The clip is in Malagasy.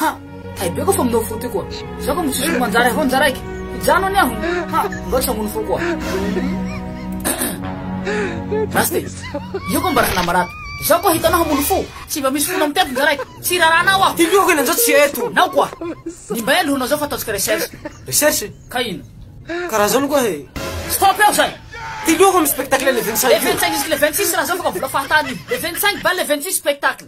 Ha! Hay be koa fa minao fo ty koa. Za koa mitsisy ho manjary aho njaraiko. Hijano anie aho. Ha! Mbao tsy hamono fo koa. Raste, io koa mba raha namarado. Za koa hitanao hamono fo. Tsy mba misy fona mitety njaraiko. Tsy hiraranao aho. Ty koa kinanjao tsy eto. Nao koa. Ny mba elo hanao zao fa ataontsika recherche. Recherche? Ka ino? Ka raha zao ny koa e. Stop eo zay! Ty koa koa misy spectacle le vingt cinq io. Le vingt cinq jusque le vingt six raha zao fa ka vola fahatany io. Le vingt cinq ba le vingt six spectacle.